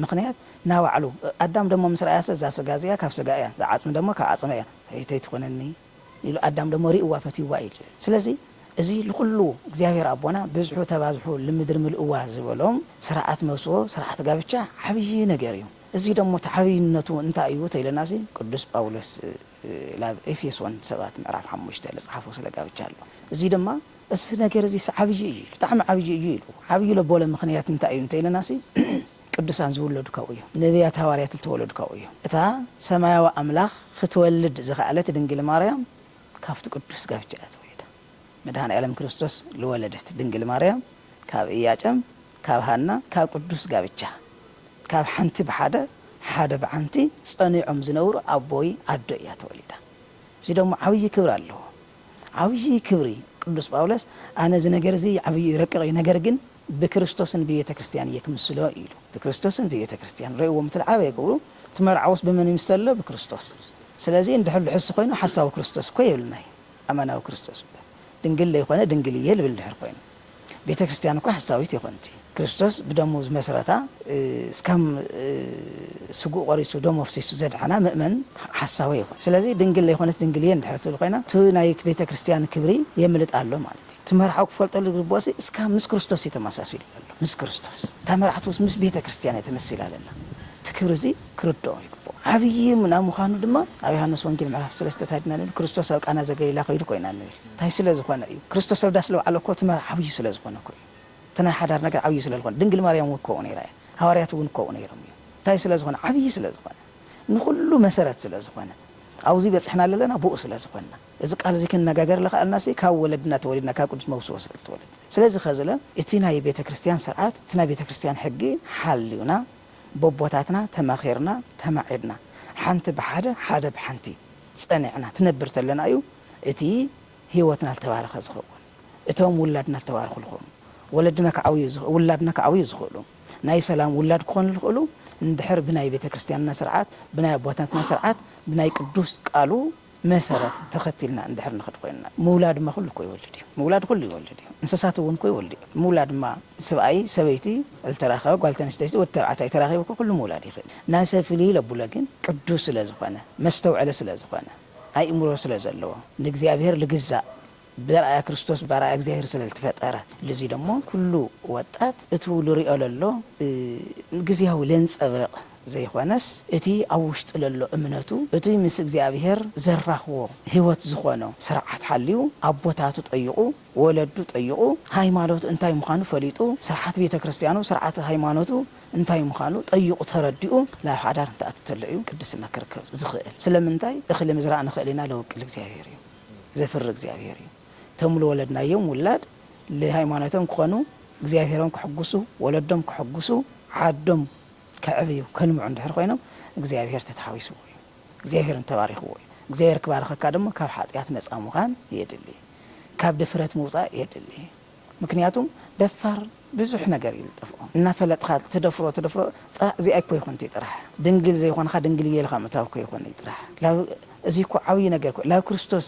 ምኽንያት ናባዕሉ ኣዳም ደማ ምስ ረኣያሰ እዛ ስጋ እዚኣ ካብ ስጋ እያ እዛ ዓጽሚ ደማ ካብ ዓጽመይ እያ ሰበይተይ ትኹነኒ ኢሉ ኣዳም ደሞ ሪእዋ ፈትይዋ ኢዩ ጅብል ስለዚ እዚ ልኩሉ እግዚኣብሔር ኣቦና ብዝሑ ተባዝሑ ልምድሪ ምልእዋ ዝበሎም ስራኣት መውስቦ ስራኣት ጋብቻ ዓብይ ነገር ኢዩ እዚ ደሞ እቲ ዓብይነቱ እንታይ ኢዩ ተኢለናሲ ቅዱስ ጳውሎስ ላብ ኤፌሶን ሰባት ምዕራፍ ሓሙሽተ ልጽሓፎ ስለ ጋብቻ ኣሎ እዚ ድማ እዚ ነገር እዚስ ዓብይ ኢዩ ብጣዕሚ ዓብይ ኢዩ ኢሉ ዓብይ ለቦለ ምክንያት እንታይ ኢዩ እንተኢለናሲ ቅዱሳን ዝውለዱ ካብኡ እዩ። ነብያት ሃዋርያት ልተወለዱ ካብኡ እዩ። እታ ሰማያዊ ኣምላኽ ኽትወልድ ዝኸኣለት ድንግል ማርያም ካብቲ ቅዱስ ጋብቻ እያ ተወሊዳ። መድኃኔዓለም ክርስቶስ ልወለደት ድንግል ማርያም ካብ ኢያጨም ካብ ሃና ካብ ቅዱስ ጋብቻ ካብ ሓንቲ ብሓደ ሓደ ብሓንቲ ጸኒዖም ዝነብሩ ኣቦይ ኣዶ እያ ተወሊዳ። እዚ ደሞ ዓብዪ ክብሪ ኣለዎ። ዓብዪ ክብሪ ቅዱስ ጳውሎስ ኣነ እዚ ነገር እዚ ዓብዪ እዩ ረቂቕ እዩ ነገር ግን ብክርስቶስን ብቤተ ክርስቲያን እየ ክምስሎ ኢሉ ብክርስቶስን ብቤተ ክርስቲያን ረእዎ ምትልዓበየ ክብሉ እቲ መርዓውስ ብመን ይምሰሎ ብክርስቶስ ስለዚ እንድሕር ልሕሱ ኮይኑ ሓሳዊ ክርስቶስ እኮ የብልናይ ኣማናዊ ክርስቶስ እምበር ድንግል ለይኮነ ድንግል እየ ልብል እንድሕር ኮይኑ ቤተ ክርስትያን እኳ ሓሳዊት ይኮንቲ ክርስቶስ ብደሙ ዝመስረታ እስካም ስግኡ ቆሪሱ ደሙ ኣፍሲሱ ዘድሐና ምእመን ሓሳዊ ኣይኮን ስለዚ ድንግል ለይኮነት ድንግል እየ እንድሕር ትብል ኮይና እቲ ናይ ቤተ ክርስትያን ክብሪ የምልጣ ኣሎ ማለት እዩ እቲ መርሓዊ ክፈልጠሉ ዝግብኦሲ እስካም ምስ ክርስቶስ እዩ ተማሳሲሉ ዘሎ ምስ ክርስቶስ እታ መራሕቲ ምስ ቤተ ክርስትያን እያ ተመሲላ ዘላ እቲ ክብሪ እዚ ክርድኦ ይግብኦ ዓብዪ ናይ ምዃኑ ድማ ኣብ ዮሐንስ ወንጌል ምዕራፍ ሰለስተ ታይ ድና ንብል ክርስቶስ ኣብ ቃና ዘገሊላ ከይዱ ኮይና ንብል ታይ ስለ ዝኾነ እዩ ክርስቶስ ኣብ ዳስ ልውዓሎ እኮ እቲ መርዓ ዓብዩ ስለ ዝኾነ እኮ እዩ እቲ ናይ ሓዳር ነገር ዓብዩ ስለ ልኾነ ድንግል ማርያም እውን ኮምኡ ነይራ እያ ሃዋርያት እውን ኮምኡ ነይሮም እዮም ታይ ስለ ዝኾነ ዓብዪ ስለ ዝኾነ ንኹሉ መሰረት ስለ ዝኾነ ኣብዙይ በፅሕና ለለና ብኡ ስለ ዝኾንና እዚ ቃል እዙይ ክንነጋገር ለኸኣልና ሲ ካብ ወለድና ተወሊድና ካብ ቅዱስ መውስቦ ስለ ልተወለድ ስለዚ ኸዝለ እቲ ናይ ቤተ ክርስትያን ስርዓት እቲ ናይ ቤተ ክርስትያን ሕጊ ሓልዩና በቦታትና ተማኺርና ተማዒድና ሓንቲ ብሓደ ሓደ ብሓንቲ ፀኒዕና ትነብር ተለና እዩ እቲ ሂወትና ልተባረኸ ዝኸውን እቶም ውላድና ልተባረኹ ልኾኑ ወለድና ክዓብዩ ውላድና ክዓብዩ ዝኽእሉ ናይ ሰላም ውላድ ክኾኑ ልኽእሉ እንድሕር ብናይ ቤተክርስትያንና ስርዓት ብናይ ኣቦታትና ስርዓት ብናይ ቅዱስ ቃሉ መሰረት ተኸቲልና እንድሕር ንኽድ ኮይንና። ምውላድ እማ ኩሉ እኮ ይወልድ እዩ ምውላድ ኩሉ ይወልድ እዩ እንስሳት እውን እኮ ይወልዱ እዮም ምውላድ እማ ስብኣይ ሰበይቲ ልተራኸበ ጓል ተንስተይቲ ወዲ ተባዕታይ ተራኺቡ እኮ ኩሉ ምውላድ ይኽእል ናሰብ ፍልይ ለቡለ ግን ቅዱስ ስለ ዝኾነ መስተውዐለ ስለ ዝኾነ ኣእምሮ ስለ ዘለዎ። ንእግዚኣብሔር ልግዛእ ብርኣያ ክርስቶስ ብኣርኣያ እግዚኣብሔር ስለ ልትፈጠረ። ልዚ ደሞ ኩሉ ወጣት እቱ ልርኦ ለሎ ግዝያዊ ለንጸብርቕ ዘይኾነስ እቲ ኣብ ውሽጡ ለሎ እምነቱ እቱይ ምስ እግዚኣብሔር ዘራኽቦ ሕይወት ዝኾኖ ሥርዓት ሓልዩ ኣቦታቱ ጠይቑ ወለዱ ጠይቑ፣ ሃይማኖት እንታይ ምዃኑ ፈሊጡ፣ ስርዓት ቤተ ክርስቲያኑ፣ ስርዓተ ሃይማኖቱ እንታይ ምዃኑ ጠይቑ ተረዲኡ ናብ ሓዳር እንትኣቱ ተሎ እዩ ቅድስና ክርከብ ዝኽእል። ስለምንታይ? እኽሊ ምዝራእ ንኽእል ኢና ለወቅል እግዚኣብሔር እዩ፣ ዘፍሪ እግዚኣብሔር እዩ። እቶም ልወለድናዮም ውላድ ልሃይማኖቶም ክኾኑ፣ እግዚኣብሔሮም ከሕጉሱ፣ ወለዶም ከሕጉሱ፣ ዓዶም ከዕብዩ፣ ከልምዑ እንድሕር ኮይኖም እግዚኣብሔር ተተሓዊስዎ እዩ። እግዚኣብሔር እንተባሪኽዎ እዩ እግዚኣብሔር ክባርኸካ ድማ ካብ ሓጥያት ነፃ ምዃን የድሊ ካብ ድፍረት ምውፃእ የድሊ ምክንያቱም ደፋር ብዙሕ ነገር እዩ ልጠፍኦ እናፈለጥኻ ትደፍሮ ትደፍሮ ፅራእ እዚኣ እኮ ይኹን እትይ ጥራሕ ድንግል ዘይኾንኻ ድንግል እየ ኢልኻ ምእታው እኮ ይኹን እይ ጥራሕ ላብ እዙይ እኮ ዓብይ ነገር እኮ እዩ ላብ ክርስቶስ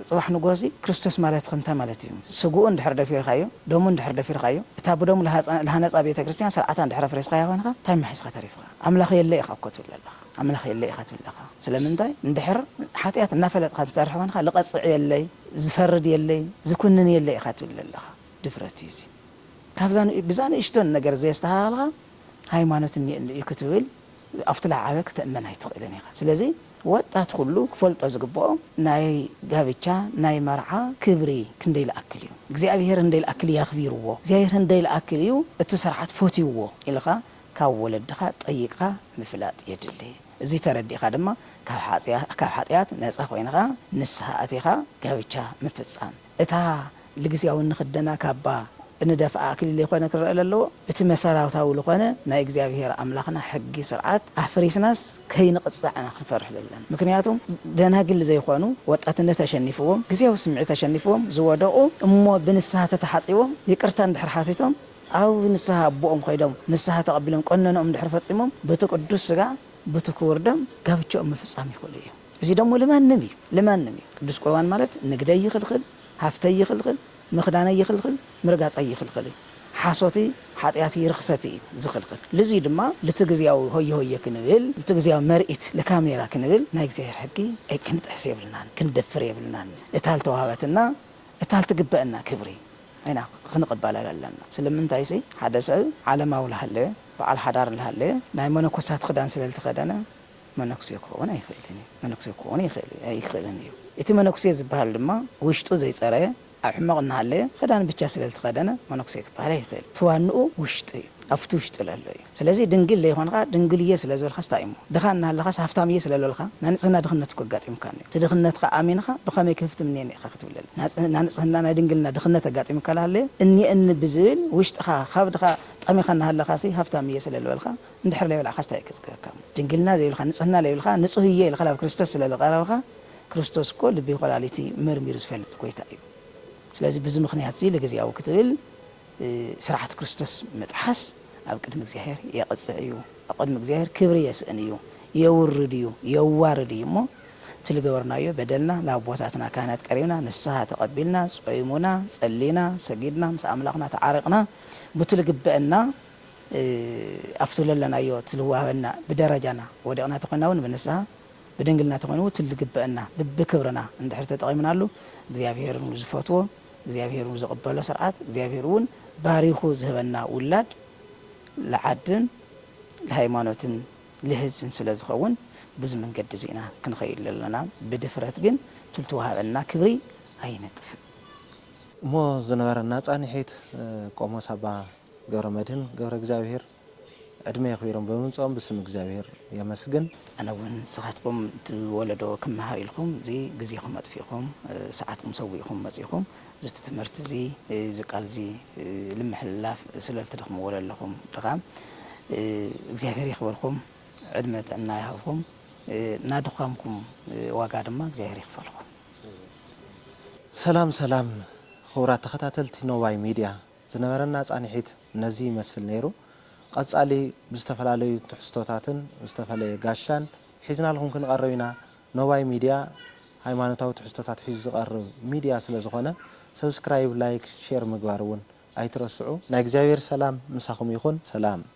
ፅባሕ ንግሆ እዚ ክርስቶስ ማለትኸ እንታይ ማለት እዩ ስግኡ እንድሕር ደፊርኻዮ ደሙ እንድሕር ደፊርኻዮ እታ ብደሙ ልሃነፃ ቤተክርስትያን ስርዓታ እንድሕር ኣፍሪስኻያ ኮይንኻ እንታይ እሞ ሒዝኻ ተሪፍኻ ኣምላኽ የለ ኢኻ እኮ ትብል ዘለኻ ኣምላኽ የለይ ኢኻ ትብል ለኻ ስለምንታይ እንድሕር ሓጥያት እናፈለጥኻ ትሰርሕ ኮንካ ልቐጽዕ የለይ ዝፈርድ የለይ ዝኩንን የለይ ኢኻ ትብል ለለኻ ድፍረት እዩ እዚ ካብዛ ብዛ ንእሽቶን ነገር ዘየስተኻኸልኻ ሃይማኖት እኒኤኒ እዩ ክትብል ኣብቲ ለዓበ ክተእመን ኣይትኽእልን ኢኻ ስለዚ ወጣት ኩሉ ክፈልጦ ዝግብኦ ናይ ጋብቻ ናይ መርዓ ክብሪ ክንደይ ልኣክል እዩ እግዚኣብሄር ህንደይ ልኣክል እዩ ኣኽቢርዎ እግዚኣብሄር ህንደይ ልኣክል እዩ እቲ ስርዓት ፈትይዎ ኢልኻ ካብ ወለድኻ ጠይቅኻ ምፍላጥ የድሊ። እዙይ ተረዲእኻ ድማ ካብ ሓጥያት ነፃ ኮይንኻ ንስሃ ኣቲኻ ጋብቻ ምፍፃም። እታ ልግዝያዊ እንኽደና ካባ እንደፍኣ ኣክሊል ልይኮነ ክረእ ለለዎ። እቲ መሰራታዊ ልኾነ ናይ እግዚኣብሄር ኣምላኽና ሕጊ ስርዓት ኣፍሪስናስ ከይንቕፃዕ ኢና ክንፈርሕ ዘለና። ምክንያቱ ደናግል ልዘይኾኑ ወጣትነት ኣሸኒፍዎም፣ ግዝያዊ ስምዒት ኣሸኒፍዎም ዝወደቑ እሞ ብንስሃ ተተሓፂቦም ይቅርታ እንድሕር ሓቲቶም፣ ኣብ ንስሃ ኣቦኦም ኸይዶም ንስሃ ተቐቢሎም ቀኖንኦም ድሕሪ ፈጺሞም በቲ ቅዱስ ሥጋ በቲ ክቡር ደም ጋብቸኦም ምፍጻም ይኽእሉ እዮም። እዚ ደሞ ልማንም እዩ ልማንም እዩ። ቅዱስ ቍርባን ማለት ንግደይ ይኽልኽል፣ ሃፍተይ ይኽልኽል፣ ምኽዳነይ ይኽልኽል፣ ምርጋጸይ ይኽልኽል እዩ። ሓሶት እይ ሓጢኣት እይ ርኽሰት እዩ ዝኽልኽል። ልዚ እዩ ድማ ልቲ ግዝያዊ ሆየ ሆየ ክንብል ልቲ ግዝያዊ መርኢት ልካሜራ ክንብል ናይ እግዚኣብሔር ሕጊ ክንጥሕስ የብልናን ክንደፍር የብልናን እታ ልተዋህበትና እታ ልትግበእና ክብሪ ኢና ኽንቕበል ኣለና። ስለምንታይሲ ሓደ ሰብ ዓለማዊ ልሃለየ በዓል ሓዳር ልሃለየ ናይ መነኮሳት ኽዳን ስለ ልተኸደነ መነኩሴ ክኸውን ኣይኽእልን እዩ። መነኩሴ ክኸውን ይኽእል ኣይክእልን እዩ። እቲ መነኩሴ ዝበሃል ድማ ውሽጡ ዘይጸረየ ኣብ ሕመቕ እናሃለየ ኽዳን ብቻ ስለ ልተኸደነ መነኩሴ ክበሃል ኣይኽእልን። እቲ ዋንኡ ውሽጡ እዩ። ኣብቲ ውሽጢ ለሎ እዩ ስለዚ ድንግል ለይኮንኻ ድንግል እየ ስለ ዝበልካስ ታይ እዩሞ ድኻ እናሃለኻስ ሃፍታም እየ ስለለልካ ናንጽህና ድኽነት እኮ ኣጋጢሙካኒ እዩ እቲ ድኽነትካ ኣሚንኻ ብኸመይ ክህፍትም እኒኤኒ ኢኻ ክትብለለይ ናንጽህና ናይ ድንግልና ድኽነት ኣጋጢሙካ ለሃለየ እኒኤኒ ብዝብል ውሽጥኻ ካብ ድኻ ጠሚኻ እናሃለኻሲ ሃፍታም እየ ስለልበልካ እንድሕር ለይበላዕካስ ታይ እዩ ከጽግበካሞ ድንግልና ዘይብልካ ንጽህና ለይብልካ ንጹህ እየ ኢልካ ላብ ክርስቶስ ስለልቐረብኻ ክርስቶስ እኮ ልቢ ኮላሊት መርሚሩ ዝፈልጥ ጎይታ እዩ ስለዚ ብዚ ምኽንያት እዚ ልግዝያዊ ክትብል ስርዓት ክርስቶስ ምጥሓስ ኣብ ቅድሚ እግዚኣብሔር የቕጽዕ እዩ፣ ኣብ ቅድሚ እግዚኣብሔር ክብሪ የስእን እዩ፣ የውርድ እዩ፣ የዋርድ እዩ እሞ እቲ ልገበርናዮ በደልና ንኣቦታትና ካህናት ቀሪብና ንስሓ ተቐቢልና ጾይሙና ጸሊና ሰጊድና ምስ ኣምላኽና ተዓሪቕና ቡቲ ልግበእና ኣብቲ ለለናዮ እቲ ልዋሃበና ብደረጃና ወዲቕና ተኾይና እውን ብንስሓ ብድንግልና ተኾይኑ እቲ ልግበእና ብብክብርና እንድሕር ተጠቒምናሉ እግዚኣብሔርን ዝፈትዎ እግዚኣብሔር ውን ዝቅበሎ ስርዓት እግዚኣብሔር ውን ባሪኩ ዝህበና ውላድ ልዓድን ልሃይማኖትን ልህዝብን ስለ ዝከውን ብዚ መንገዲ እዚ ኢና ክንከይድ ለለና ብድፍረት ግን ትልትወሃበና ክብሪ ኣይነጥፍእ እሞ ዝነበረና ፃኒሒት ቆሞስ ኣባ ገብረመድህን ገብረእግዚኣብሔር ዕድመ የኽቢሮም ብምምጽኦም ብስም እግዚኣብሔር የመስግን። ኣነ እውን ንስኻትኩም እቲ ወለዶ ክመሃር ኢልኩም እዚ ግዜኹም ኣጥፊእኹም ሰዓትኩም ሰዊእኹም መጺእኹም ዝቲ ትምህርቲ እዚ እዚ ቃል እዚ ልምሕልላፍ ስለልትደኽምዎ ለለኹም ድኻም እግዚኣብሔር የኽብርኩም ዕድመ ጥዕና ይሃብኹም ናድዃምኩም ዋጋ ድማ እግዚኣብሔር ይኽፈልኩም። ሰላም ሰላም ኽቡራት ተኸታተልቲ ኖባይ ሚድያ ዝነበረና ፃንሒት ነዚ ይመስል ነይሩ። ቐፃሊ ብዝተፈላለዩ ትሕዝቶታትን ዝተፈለየ ጋሻን ሒዝናልኹም ክንቐርብ ኢና። ኖባይ ሚድያ ሃይማኖታዊ ትሕዝቶታት ሒዙ ዝቐርብ ሚድያ ስለዝኾነ ሰብስክራይብ፣ ላይክ፣ ሼር ምግባር እውን ኣይትረስዑ። ናይ እግዚኣብሔር ሰላም ምሳኹም ይኹን ሰላም።